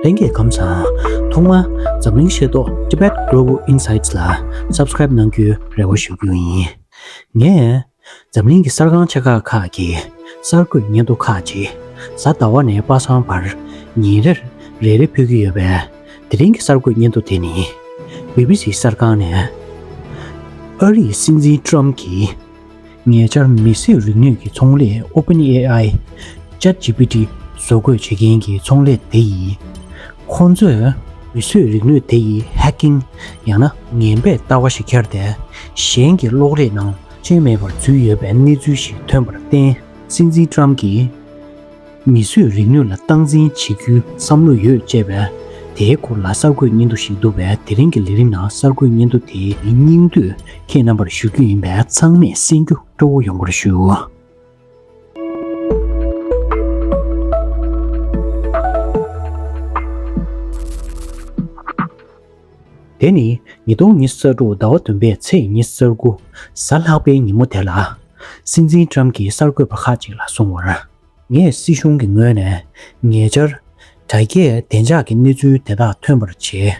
ལྷན་རྒྱས་གམ་ཚང་ཐོག་མ་འཛམ་གླིང་ཤེས་རྟོག Tibet Global Insights ལ Subscribe གནང་རྒྱུའི་རེ་བ་ཞུ་རྒྱུ་ཡིན། ངས་འཛམ་གླིང་གི་གསར་ཁང་ཆེ་ཁག་ཁག་གི་གསར་འགོད་སྙན་ཐོ་ཁག་ཅིག་གཟའ་ཟླ་བ་ནས་པ་སངས་བར་ཉིན་རེར་རེ་རེ་ཕུལ་གྱི་ཡོད་པས་དེ་རིང་གི་གསར་འགོད་སྙན་ཐོ་དེ་ནི BBC གསར་ཁང་ནས་ཨ་རིའི་སྲིད་འཛིན Trump གྱིས། ཉེ་ཆར་མི་སེར་རིག་ནུས་ཀྱི་ཚོང་ལས OpenAI། ChatGPT། བཟོ་འགོད་བྱེད་མཁན་གྱི་ཚོང་ལས་དེ་ཡིན། ཁོང་ཚོས་མི་སེར་རིག་ནུས་དེ་ཡིས Hacking། ཡང་ན་ངན་པས་ལྟ་བ་ཞིག་འཁྱེར་ཏེ། གཞན་གྱི་གློག་རིས་ནང་རྐྱེན་མེད་པར་འཛུལ་ཡོད་པའི་གནས་ཚུལ་ཞིག་ཐོན་པར་བརྟེན། སྲིད་འཛིན་ཀྲམ་གྱིས། མིས་བཟོས་རིག་ནུས་ལ་སྟངས་འཛིན་བྱེད་རྒྱུའི་བསམ་བློ་ཡོད་ཅེས་པས། དེའི་སྐོར་ལ་གསར་འགོད་སྙན་ཐོ་ཞིག་འདུག་པས་དེ་རིང་གི་ལས་རིམ་ནང་གསར་འགོད་སྙན་ཐོ་དེའི་སྙིང་བསྡུས་ཁྱེད་རྣམ་པར་ཞུ་རྒྱུ་ཡིན་པས་ཚང་མས་གསན་རྒྱུ་སྤྲོ་བོ་ཡོང་བར་ཞུ། དེ་ནི་ཉིས་སྟོང་ཉི་ས་དྲུག་ཟླ་བ་བདུན་པའི་ཚེས་ཉི་ས་དགུ་གཟའ་ལྷག་པའི་ཉིན་མོ་དེ་ལ། སྲིད་འཛིན་ཀྲམ་གྱིས་གསར་འགོད་པ་ཁག་ཅིག་ལ་གསུང་བར། ངས་སྲིད་གཞུང་གི་ངོས་ནས་ཉེ་ཆར། དྲ་རྒྱའི་བདེ་འཇགས་ཀྱི་གནས་ཚུལ་དེ་དག་ཐོན་པར་བྱས།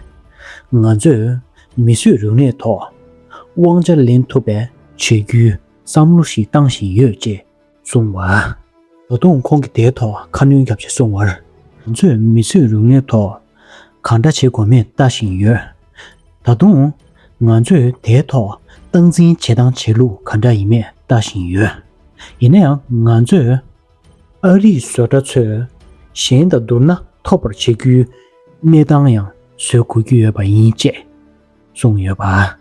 ང་ཚོས་མི་གསོད་རུག་གནས་ཐོག་དབང་ཆ་ལེན་ཐུབ་པའི་བྱེད་རྒྱུའི་བསམ་བློ་ཞིག་བཏང་བཞིན་ཡོད་ཅེས་གསུངས་པ། ད་དུང་ཁོང་གིས་དེའི་ཐོག་ཁ་སྣོན་རྒྱག་ཆེད་གསུངས་བར། ང་ཚོས་མི་གསོད་རུག་གནས་ཐོག་གང་འདྲ་བྱེད་དགོས་མིན་ལྟ་བཞིན་ཡོད། ད་དུང། ང་ཚོས་དེའི་ཐོག་སྟངས་འཛིན་བྱེད་སྟངས་བྱེད་ལུགས་ག་འདྲ་ཡིན་མེད་ལྟ་བཞིན་ཡོད། ཡིན་ན་ཡང་ང་ཚོས། ཨ་རིའི་བཟོ་གྲྭ་ཚོས་གཞན་དང་བསྡུར་ན་ཐོབ་པར་བྱེད་རྒྱུའི་གནས་སྟངས་ཡང་བཟོས་དགོས་ཀྱི་ཡོད་པ་ཡིན་ཅེས། གསུངས་ཡོད་པ།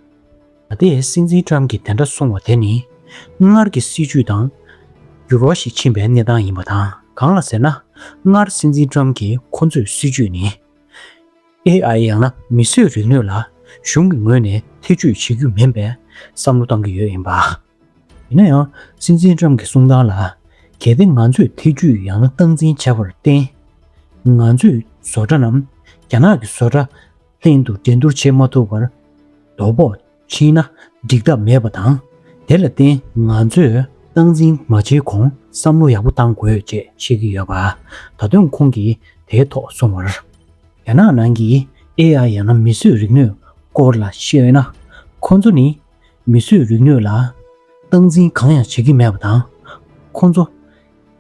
ད་ལྟའི་སྲིད་འཛིན་ཀྲམ་གྱིས་དེ་འདྲ་གསུངས་བ་དེ་ནི་སྔར་གྱི་སྲིད་བྱུས་དང་འགྱུར་བ་ཞིག་ཕྱིན་པའི་གནས་སྟངས་ཡིན་པ་དང་གང་ལ་ཟེར་ན་སྔར་སྲིད་འཛིན་ཀྲམ་གྱིས་ཁོ་ཚོས་སྲིད་བྱུས་ནི AI ཡང་ན་མི་གསོད་རིག་ནུས་ལ་གཞུང་གི་ངོས་ནས་ཐེ་ཇུས་བྱེད་རྒྱུ་མིན་པའི་བསམ་བློ་བཏང་གི་ཡོད་ཡིན་པ། ཡིན་ན་ཡང་སྲིད་འཛིན་ཀྲམ་གྱི་གསུང་སྟངས་ལ་གལ་ཏེ་ང་ཚོས་ཐེ་ཇུས་ཡང་ན་སྟངས་འཛིན་བྱས་པར་བརྟེན་ང་ཚོས་བཟོ་གྲྭ་རྣམས་རྒྱ་ནག་གི་བཟོ་གྲྭ་གཏན་དུ་འགྲན་བསྡུར་བྱེད་མ་ཐུབ་པར་རྡོ་ཕོག་ཕྱིན་ན་འགྲིག་ཐབས་མེད་པ་དང། དེ་ལ་བརྟེན་ང་ཚོས་སྟངས་འཛིན་མ་བྱེད་གོང་བསམ་བློ་ཡག་པོ་གཏང་དགོས་ཅེས་བཤད་ཀྱི་ཡོད་པ། ད་དུང་ཁོང་གིས་དེའི་ཐོག་གསུངས་བར། རྒྱ་ནག་ནང་གི AI ཡང་ན་མིས་བཟོས་རིག་ནུས་སྐོར་ལ་བཤད་ན། ཁོང་ཚོ་ནི་མིས་བཟོས་རིག་ནུས་ལ་སྟངས་འཛིན་གང་ཡང་བྱེད་ཀྱི་མེད་པ་དང། ཁོང་ཚོ་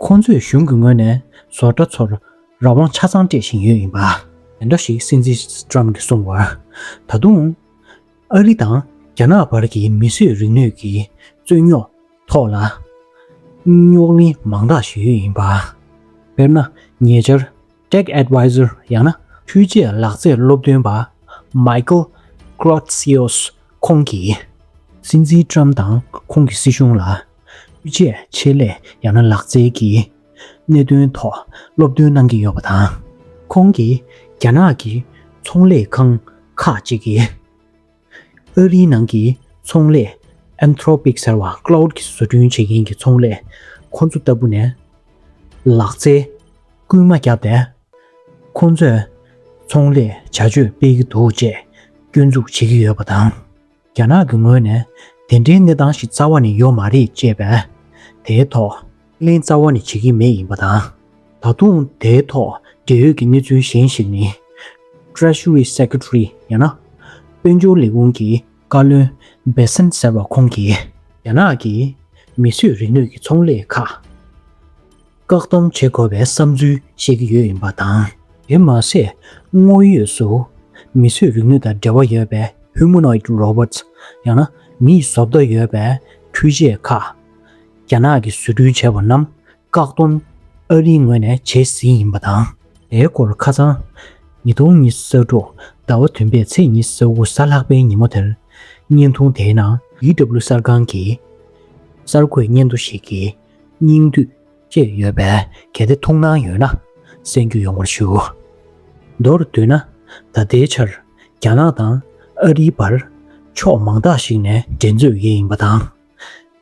ཁོང་ཚོས་གཞུང་གི་ངོས་ནས་བཟོ་གྲྭ་ཚོར་རང་དབང་ཆ་ཚང་སྤྲད་བཞིན་ཡོད་ཡིན་པ། འདྲ་ཞིག་སྲིད་འཛིན Trump གྱིས་གསུངས་བར། ད་དུང། ཨ་རི་དང་རྒྱ་ནག་བར་གྱི་མི་གསོད་རིག་ནུས་ཀྱི་རྩོད་རྙོག་ཐོག་ལ། རྙོག་གླེང་མང་དག་ཞིག་ཡོད་ཡིན་པ། དཔེར་ན་ཉེ་ཆར། Tech Advisor ཡང་ན་འཕྲུལ་ཆས་ལག་རྩལ་སློབ་སྟོན་པ། Michael Grotzios ཁོང་གིས། སྲིད་འཛིན Trump དང་ཁོང་གི་སྲིད་གཞུང་ལ། འཕྲུལ་ཆས་ཆེད་ལས་ཡང་ན་ལག་རྩལ་གྱི་གནད་དོན་ཐོག་སློབ་སྟོན་གནང་གི་ཡོད་པ་དང། ཁོང་གིས་རྒྱ་ནག་གི་ཚོང་ལས་ཁང་ཁག་ཅིག་གིས་ཨོ་རིའི་ནང་གི་ཚོང་ལས Anthropic ཟེར་བ Claude གིས་བཟོ་སྐྲུན་བྱེད་མཁན་གྱི་ཚོང་ལས་ཁོ་ཚོ་ལྟ་བུ་ནས་ལག་རྩལ་སྐུལ་མ་བརྒྱབ་པས། ཁོ་ཚོས་ཚོང་ལས་བྱ་སྤྱོད་སྤེལ་གྱི་འདུག་ཅེས་སྐྱོན་འཛུགས་བྱེད་ཀྱི་ཡོད་པ་དང། རྒྱ་ནག་གི་ངོས་ནས་དེ་འདྲའི་གནས་སྟངས་ཤིག་རྩ་བ་ནས་ཡོད་མ་རེད་ཅེས་པས། དེའི་ཐོག་གླེང་རྩ་བ་ནས་བྱེད་ཀྱི་མེད་ཡིན་པ་དང། ད་དུང་དེའི་ཐོག་འབྲེལ་ཡོད་ཀྱི་གནས་ཚུལ་གཞན་ཞིག་ནི། Treasury Secretary ཡང་ན། དཔལ་འབྱོར་ལས་ཁུངས་ཀྱི་བཀའ་བློན Bessent ཟེར་བ་ཁོང་གིས། རྒྱ་ནག་གིས་མི་གསོད་རིག་ནུས་ཀྱི་ཚོང་ལས་ཁག། བཀག་སྡོམ་བྱེད་དགོས་པའི་བསམ་ཚུལ་བཤད་ཀྱི་ཡོད་ཡིན་པ་དང། དེར་མ་ཟད། དངོས་ཡོད་སུ། མི་གསོད་རིག་ནུས་དང་འབྲེལ་བ་ཡོད་པའི Humanoid Robots། ཡང་ན། མིའི་བཟོ་ལྟ་ཡོད་པའི་འཕྲུལ་ཆས་ཁག། རྒྱ་ནག་གིས་བཟོ་སྐྲུན་བྱས་པ་རྣམས་བཀག་སྡོམ་ཨ་རིའི་ངོས་ནས་བྱེད་ཟིན་ཡིན་པ་དང། དེའི་སྐོར་ཁ་ཚང། ཉིས་སྟོང་ཉི་ས་དྲུག་ཟླ་བ་བདུན་པའི་ཚེས་ཉི་ས་དགུ་ས་ལྷག་པའི་ཉིན་མོ་དེར། བརྙན་ཐུང་དེའི་ནང། EW གསར་ཁང་གིས་གསར་འགོད་སྙན་ཐོ་ཞིག་གིས། སྙིང་བསྡུས། ཅེས་ཡོད་པས་གལ་ཏེ་ཐུགས་སྣང་ཡོད་ན་གསན་རྒྱུ་ཡོང་བར་ཞུ། མདོར་བསྡུས་ན། ད་ལྟའི་ཆར་རྒྱ་ནག་དང་ཨ་རིའི་བར། ཕྱོགས་མང་དག་ཞིག་ནས་འགྲན་རྩོད་བགྱིད་ཡིན་པ་དང།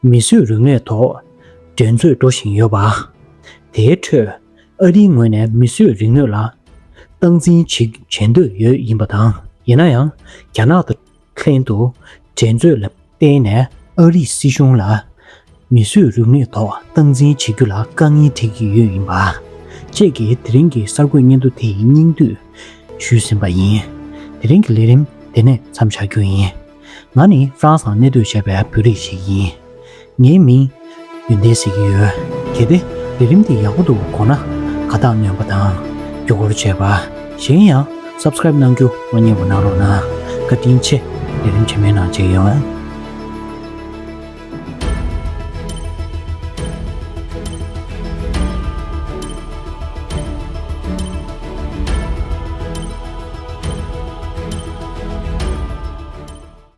མི་གསོད་རུལ་ནད་ཐོག་འགྲན་རྩོད་འགྲོ་བཞིན་ཡོད་པ། དེའི་ཁྲོད་ཨ་རིའི་ངོས་ནས་མི་གསོད་རིག་ནུས་ལ་སྟངས་འཛིན་བྱེད་འདོད་ཡོད་ཡིན་པ་དང། ཡིན་ན་ཡང་རྒྱ་ནག་དང། ལྷན་དུ་འགྲན་རྩོད་ལ་བརྟེན་ནས་ཨ་རིས་སྲིད་གཞུང་ལ་མི་གསོད་རུབ་གནས་ཐོག་སྟངས་འཛིན་བྱེད་རྒྱུ་ལ་དཀའ་ངལ་འཕྲད་ཀྱི་ཡོད་ཡིན་པ། བཅས་ཀྱིས་དེ་རིང་གི་གསར་འགོད་སྙན་ཐོ་དེ་ཡི་སྙིང་བསྡུས་ཞུས་ཟིན་པ་ཡིན། དེ་རིང་གི་ལས་རིམ་དེ་ནས་མཚམས་བཞག་རྒྱུ་ཡིན། ང་ནི་ཧྥ་རན་སང་གནས་སྡོད་བྱས་པའི་བོད་རིགས་ཤིག་ཡིན། ངའི་མིང། ཡོན་ཏན་ཟེར་གྱི་ཡོད། གལ་ཏེ། ལས་རིམ་འདི་ཡག་པོ་འདུག་དགོངས་ན། ཁ་བཏགས་བསྣོན་པ་དང། བརྒྱུད་སྐུར་བྱས་པ། གཞན་ཡང། Subscribe གནང་རྒྱུ་བློ་ཉེ་བོ་གནང་རོགས་གནང། བཀའ་དྲིན་ཆེ། ལས་རིམ་ཆེན་མོའི་ནང་མཇལ་ཡོང།